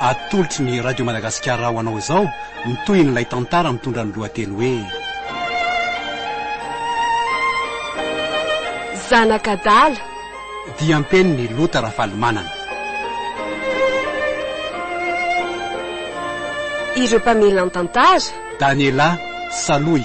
Atolotry ny Radio Madagasikara ho anao izao ny tohin'ilay tantara mitondra ny lohateny hoe. Zanak'adala. Diam-penin'i Lota Rafalimanana. Ireo mpamelan-tantara. Daniela Saloy.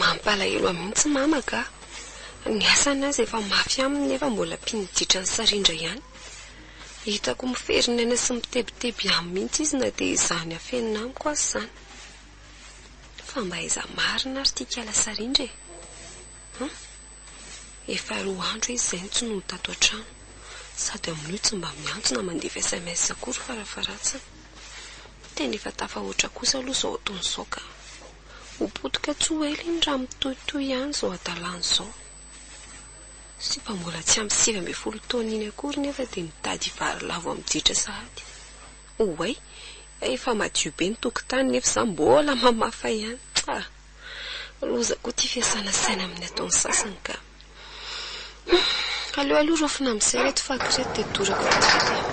Mampalahelo ahy mihitsy mama ka. Ny asany aza efa mafy aminy nefa mbola mpino ditran'i Sarindra ihany. Hitako miferin' aina sy mitebiteby aminy mihitsy izy na dia izaho ny afenina amiko aza izany. Fa mba aiza marina ary ity kala Sarindra e? Hum. Efa roa andro izy izay no tsy noho tato an-trano. Sady amin'io tsy mba miantso na mandefa sms akory fara faharatsiny. Tena efa tafahoatra kosa aloha izao ataony izao ka. Ho potika tsy ho ela iny raha mitohitohy ihany izao hadalany izao. Sy efa mbola tsy ampy sivy ambin'ny folo taona iny akory nefa dia mitady hivary lavo amin'ny jetra sahady. Oay, efa madio be ny tokotany nefa izaho mbola mamafa ihany. Tsa! Loza koa ity fiasana saina amin'ny ataon'ny sasany ka. Aleo aloha raofina amin'izay ireto fako ireto dia dorako eto an-toerana.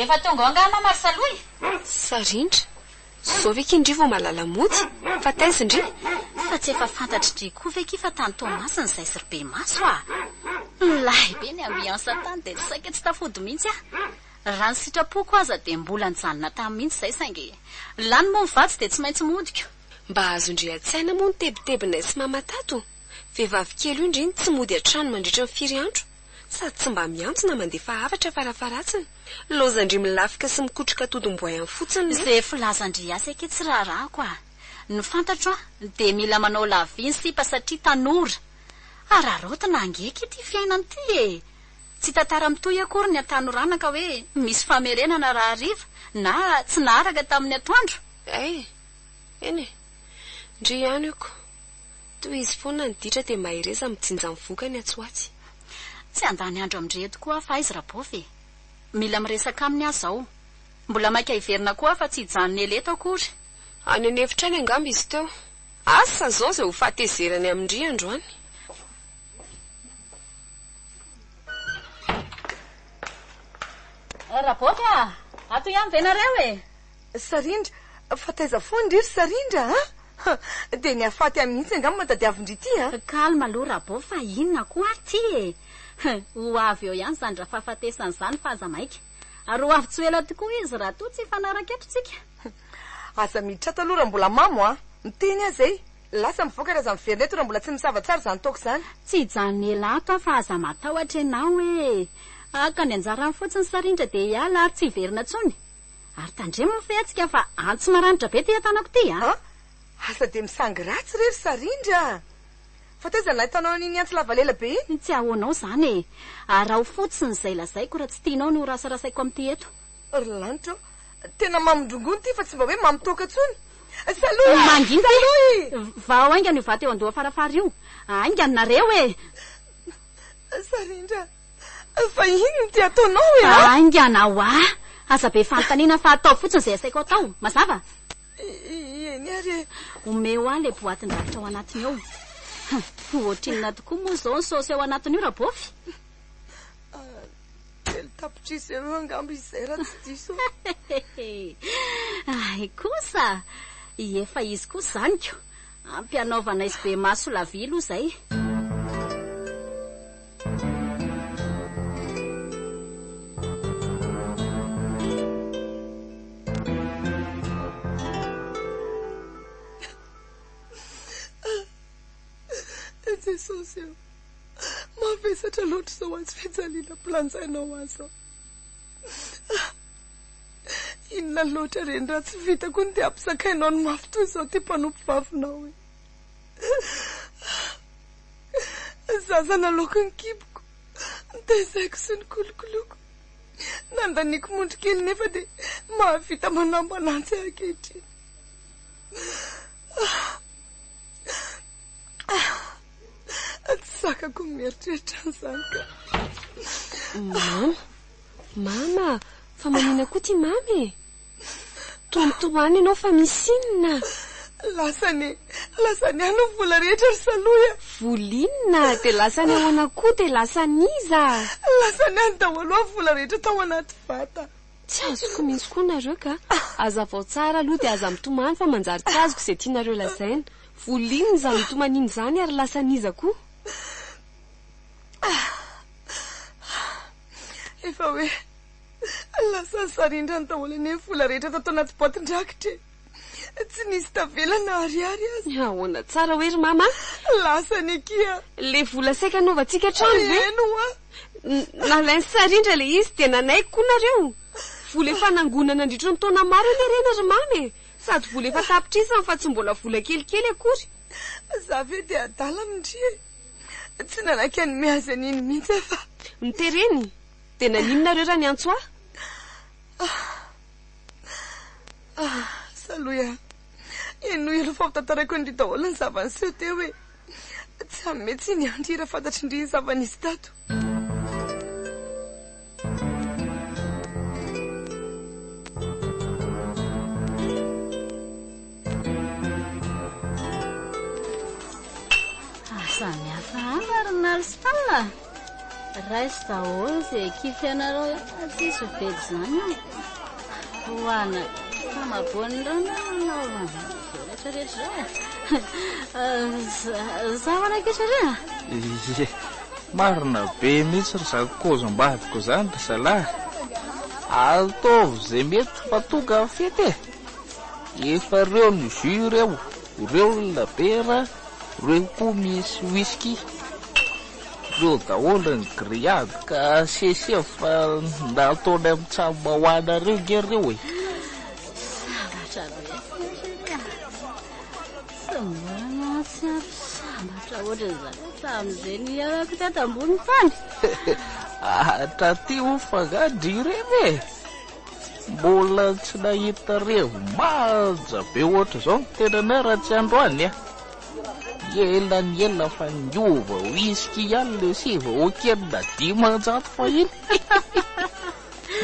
Efa tonga ao angaha mama ry Salohy? Sarindra. Izao ve k'indry vao mahalala mody? Fa taiza indry? Fa tsy efa fantatr'i Dry koa ve ki fa tany Toamasina izahay sy ry Bemaso a! Milay be ny ambiance tany dia saika tsy tafody mihitsy aho. Raha ny sitrapoko aza dia mbola nijanona tany mihitsy izay saingy lany moa ny vatsy dia tsy maintsy modiko. Mba azondry hatsaina moa ny tebitebinay sy mama tato? Vehivavy kely io ndry ny tsy mody an-trano mandritra ny firy andro? Sady tsy mba miantso na mandefa hafatra farafaharatsiny. Laozandry milafika sy mikotroka todim-boay any fotsiny ny. Ze filazandry azy akia tsy raharahako a! Ny fantatro a dia mila manao lavie ny sipa satria tanora. Hararaotina ange akia ity fiainana ity e! Tsy tantara mitohy akory ny hatanorana ka hoe misy famerenana raha hariva na tsy naharaka tamin'ny atoandro? Ay! Eny e! Ndry ihany oko! Tohizo foana ny ditra dia mahereza mijinja ny vokany atsy ho atsy. Tsy handany andro amin-dry eto koa aho fa aiza Rabôfy e! Mila miresaka aminy aho izao. Mbola maika hiverina koa aho fa tsy hijanona ela eto akory. Any an'efitra any angamba izy teo. Asa izao izay ho fahatezerany amin-dry androany. Raboty a! Ato ihany ve nareo e? Sarindra, fa taiza foana ndry ry Sarindra a! Dia ny hafaty ahy mihitsy angaha matadiavin-dry ity a! Calme aloha Rabo fa inona koa ary ity e! Ho avy eo ihany izany drafahafatesana izany fa aza maika. Ary ho avy tsy ho ela tokoa izy raha toa tsy hifanaraka eto tsika. Aza miditra ato aloha raha mbola mamo a! Miteny aza e! Lasa mivoaka raha za miverina eto raha mbola tsy nisava tsara izany toaka izany. Tsy hijanona ela ato aho fa aza matahotra ianao e! Haka ny anjarany fotsiny sa rindra dia hiala ary tsy hiverina intsony? Ary tandremo ny fihetsika fa antso maranitra be ity tanako ity a! An! Asa dia misangy ratsy re ry Sarindra a! Fa taiza no nahitanao an'iny antsy lava lela be iny? Tsy ahoanao izany e! Araho fotsiny izay lazaiko raha tsy tianao ny horasarasaiko amin'ity eto. Ry lanitra o! Tena mamindrongony ity fa tsy mba hoe mamitoaka tsony. Salut a! Mangina ty! Salut y! Vahao haingana io vato eo an-doha farafara io. Haingana nareo e! Sarindra, fa inona no te ataonao e a? Haingana ho'a! Aza be fanontaniana fa ataovy fotsiny izay asaiko atao. Mazava? Eny ary e! Omeo ahy ilay boatin-drakitra ao anatiny ao. Hum, ohatrinona tokoa moa izao ny saosy ao anatiny io, Rabôfy? Telo tapitrisa eo eo angamba izay raha tsy diso aho. Hehehe. Ahy kosa! Efa izy koa zaniko. Ampy anaovana SB maso la vie aloha izay. Jesosy ô! Mavesatra loatra izao azy fijaliana mpilanjainao azy aho. Ah! Inona loatra reny raha tsy vitako ny dia ampizakainao ny mafy toy izao ity mpanompovavinao e. Ah! Zaza nalaoko ny kiboko, nitaizaiko sy nikolokoloiko. Nandaniako mondry kely nefa dia mahavita manambana antsy aho ankehitriny. Ah! Ah, tsy sakako ny mieritreritra an'izany ka. Mama, mama, fa manina koa ty mama e. Toantoany ianao fa misy inona? Lasany, lasany any ny vola rehetra ry Saloya. Volinona, dia lasany ahoana koa, dia lasan'iza? Lasany any daholo ny vola rehetra tao anaty vata. Tsy azoko mihitsy koa nareo ka. Hazavao tsara aloha dia aza mitomany fa manjary tsy azoko izay tianareo lazaina. Volin izany tomanin izany ary lasan iza koa? Efa hoe lasa sarindrany daholo anie ny vola rehetra tato anaty boatin-drakitra e! Tsy nisy tavela na ariary aza. Ny ahoana tsara hoe ry mama a? Lasany akia! Ilay vola saika hanaovantsika trano ve? Eny hoa! Nalain'i sarindra ilay izy dia nanaiky koa nareo? Vola efa nangona nandritra ny taona maro anie ireny ry mama e! Sady vola efa tapitrisany fa tsy mbola vola kelikely akory. Za ve dia adala amin ndry e! Tsy nanaky an'i Me azy an'iny mihitsy aho fa. Ny tereny? Dia nanino nareo raha niantso ahy? Ah! Ah! Salohy a! Henoy aloha fa ho tantaraiko an'ndry daholo ny zava-niseho teo e! Tsy hanome tsiny an-dry raha fantatrin-dry ny zava-nisy tato. Samy hafa àry ny Alston a! Raiso daholo ze ekipy anareo fa tsisy ho vedy zany io. Ho ana famaboan'ny rano nanaovana rehetra rehetra zay. Za mana kisa re. Ye, marina be mihitsy ry zako kaozim-badiko zany ry zalahy. Ataovy ze mety fa tonga ny fety e. Efa reo ny jus reo, reo ny labiera, reo koa misy whisky. Leo daholo ny grillade ka asiesie fa ndao ataony amin'ny tsamba ho anareo nge ireo e. Sambatra betsaka. Tsy mbola nahatsiaro sambatra ohatran'izany tamin'izay nihaonako tato ambony tany. Hatraty ho fa nga dry revy e. Mbola tsy nahita revy manja be ohatr'izao ny tenanay raha tsy androany a. Ela ny ela fa niova whisky ihany le sivy hoken na dimanjato fahiny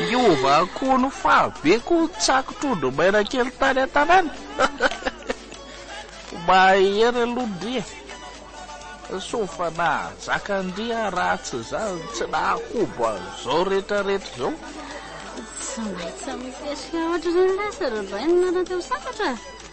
Niova akoho ny fahabe ko tsako trondro maina kely tany an-tanàna Mahery aloha ndry e Soa fa nahazaka ndry a raha tsy izany tsy nahakobo an'izao rehetrarehetra izao. Tsy maintsy misesika ohatr'ireny lasa ry Rabaina nareo teo sambatra.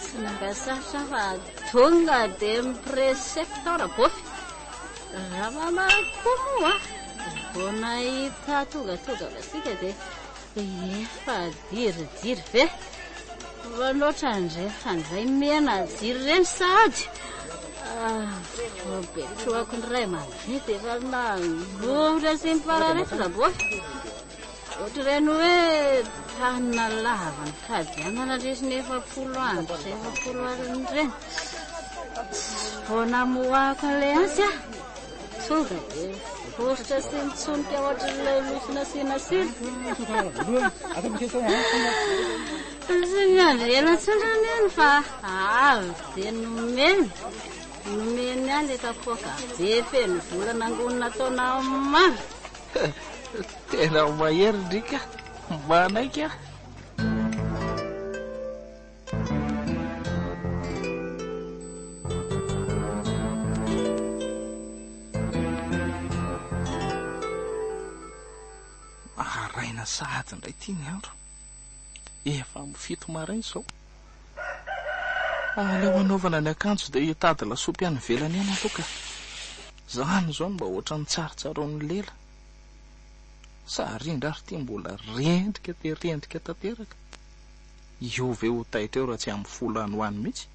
Tsy mba sarotra aho fa tonga dia mi-presepta Rabofy. Ramama koa moa vao nahita tongatoga masika dia efa diridiry be. Fa loatra ndry fa ndray mena jiro ireny sahady. Vao be trohako ny ray aman-dreny dia efa nangovitra sy nipararetsy Rabofy. Ohatran'ny hoe tany lava ny fadianana lesy ny efapolo andro sy efapolo alina ireny. Tsy vao namoahako an'ilay antsy aho, tonga dia vositra sy nitsonika ohatran'ilay lofo nasiana sira. Tsy miandry ela intsony aho neny fa avy dia nomeny, nomeny ahy ilay kapoaka be feno vola nangonina taona maro. Tena mahery ny rika, manaiky an! Maraina sahady indray ity ny andro, efa amin'ny fito maraina izao. Aleo hanaovana ny akanjo dia hitady lasopy any ivelany ihany aloha ka. Izany izao no mba ohatran'ny tsarotsaroan'ny lela. Sa ry indry ary ity mbola rendrika dia rendrika tanteraka? Io ve ho taitra eo raha tsy amin'ny folo any ho any mihitsy?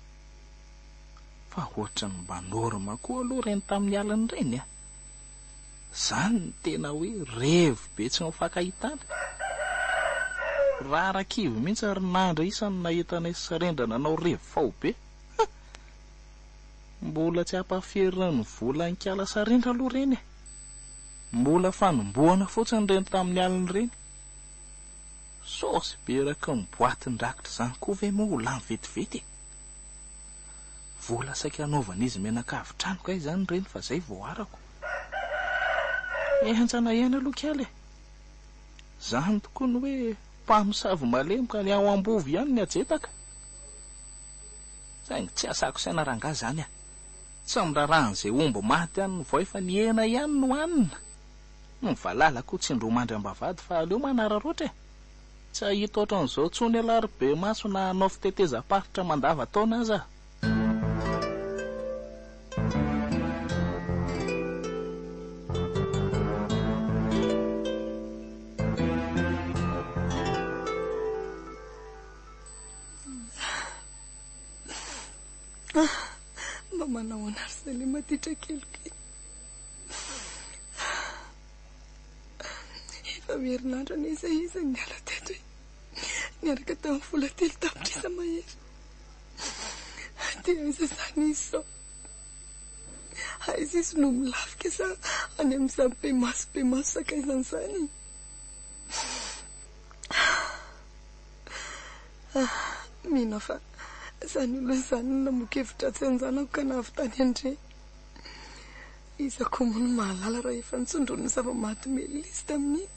Fa ohatran'ny mba norma koa aloha ireny tamin'ny alina ireny a! Zany no tena hoe revy be tsy mifankahitana. Rara kivy mihitsy ary nandry isa no nahita anay Srendra nanao revy faobe. Huh! Mbola tsy ampaferina ny volankala Srendra aloha ireny e! Mbola fanombohana fotsiny ireny tamin'ny aliny ireny. Saosy be eraky ny boatin-drakitra izany koa ve moa ho lany vetivety e! Vola saika anaovan'izy mianakavy trano kay izany reny fa izay vao arako. Henjana ihany aloha kely e! Izany tokoa ny hoe mpamosavy malemy ka ny ao am-bovy ihany ny ajetaka. Saingy tsy asako saina rangahy izany a! Tsy amin'ny raharahan'izay omby maty any ny voay fa ny hena ihany no hanina. Ny valala koa tsy indro mandry am-bavahady fa aleo manararaotra e! Tsy hahita ohatran'izao intsony ialahy ry bemaso na hanao fitetezam-paritra mandavan-taona aza aho. Mba manahoana ry Selema ity trakeliko ity. Efa ho herinandro anie izay izy no niala teto e! Niaraka tamin'ny vola telo tapitrisa mahery. Aty aiza izany izy izao? Aiza izy no milafika sa any amin'izany be maso be maso sakaizany izany? Mino aho fa izany olona izany no namoa kevidratsy anjanako ka nahavitany an'ireny. Iza koa moa no mahalala raha efa nitsondron'ny zava-maty Melis tamin'iny.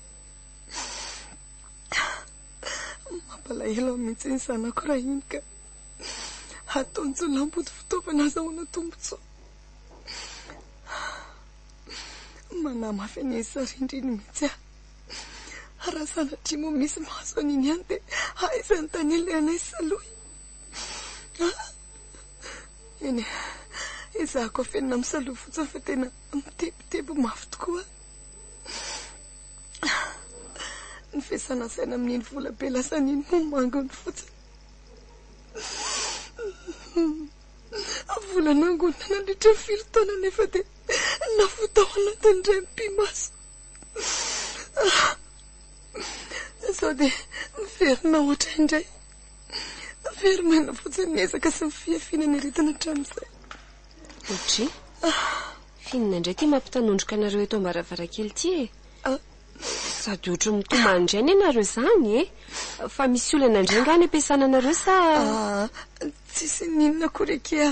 Mampalahelo ahy mihitsy ny zanako raha iny ka. Ataontsony lamboty fitaovana azahoana tombontsoa. Manahy mafy an'iny sarindry iny mihitsy aho. Raha sanatria moa misy mahazo an'iny ihany dia aiza ny tany alehanay sy Salohy a! Eny, ezahako afenina misaloha fotsiny fa tena mitebiteby mafy tokoa ny fiasana saina amin'iny vola be lasany iny moa mangony fotsiny. Vola nangonina nandritra ny firy taona nefa dia lafo tao anatiny indray mipi-maso. Izao dia miverina ohatra indray. Very maina fotsiny ny ezaka sy ny fihafiana niaritana hatramin'izay. Audrey, f'inona indray ity mampitanondroka anareo eto am-baravarankely ity e? Sady ohatry mitomany indray anie nareo izany e? Fa misy olana indray angaha any am-piasana anareo sa? Tsisy n'inona akory akia.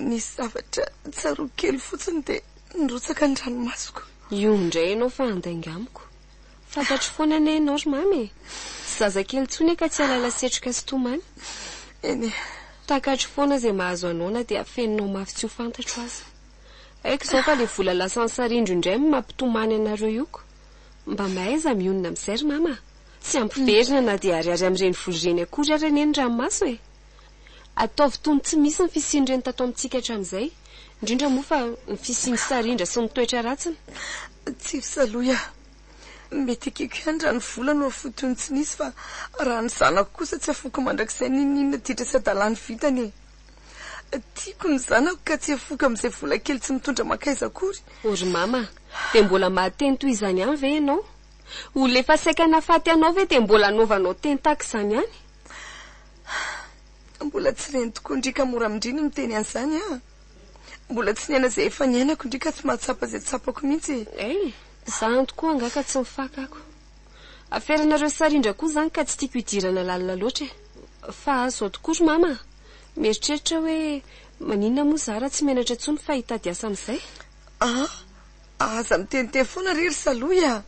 Nisy zavatra tsaroako kely fotsiny dia nirotsaka ny ranomasoko. Io indray ianao fa handainga amiko. Fantatro foana anie ianao ry Mamy e! Tsy zazakely intsony ka tsy alaila setroka sy tomany. Eny e! Takatro foana izay mahazo anao na dia afeninao mafy tsy ho fantatro aza. Haiko izao fa ilay vola lasan'ny sarindro indray no mampitomany anareo io ko! Mba mahaiza mionona amin'izay ry Mama a! Tsy ampiverina na dia ariary amin'ireny vola ireny akory ary anie ny ranomaso e! Ataovy toy ny tsy misy ny fisian'ireny tato amintsika hatramin'izay, indrindra moa fa ny fisian'ny sarindra sy ny toetra ratsiny. Tsy fisaloy aho. Mety ekeko ihany raha ny vola no afoy toy ny tsy nisy fa raha ny zanako kosa tsy afoiko mandrakizay n'inon'inona ditra sy hadalany vitany e! Tiako ny zanako ka tsy afoiko amin'izay vola kely tsy mitondra mankaiza akory. O ry Mama a! Dia mbola mahateny toy izany ihany ve ianao? Olona efa saika nahafaty anao ve dia mbola anaovanao teny tahaka izany ihany? Hah! Mbola tsy reny tokoa ndry ka mora amindry ny miteny an'izany an! Mbola tsy niaina izay efa niainako ndry ka tsy mahatsapa izay tsapako mihitsy e! Hey! Za any tokoa angaha ka tsy mifakako. Aferanareo sarindra koa zany ka tsy tiako hidirana lalina loatra e! Fa zao tokoa ry mama a! Mieritreritra aho hoe maninona moa za raha tsy menatra intsony fa hitady asa amin'izay? Aa! Aza miteniteny foana re ry Salohy a!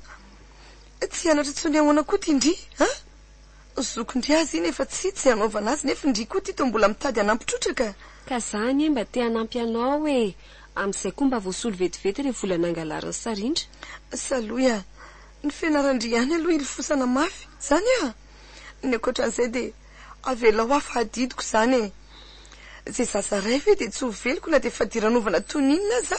Tsy hianatra intsony ahoana koa ity ndry an! Zokin-dry azy iny efa tsy tsy hanaovana azy nefy ndry koa ty toa mbola mitady hanampy trotraka. Ka za anie mba te hanampy anao e! Amin'izay koa mba voasolo vetivety le vola nangalarin'i Sarindra. Salohy a! Ny fianaran-dry ihany aloha hilofosana mafy zany a! Ny ankoatran'izay de avelao aho fa adidiko izany e! Izay zaza ray ve de tsy ho veloko na de fadiranovana toy ny inona aza?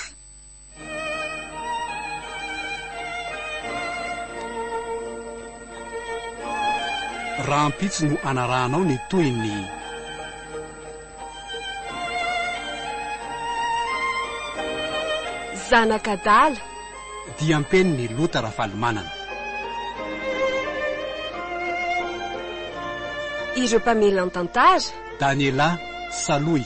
Rahampitso no anarahanao ny tohiny. Zanak'adala. Diam-penin'i Lota Rafalimanana. Ireo mpamelan-tantara. Daniela Salohy.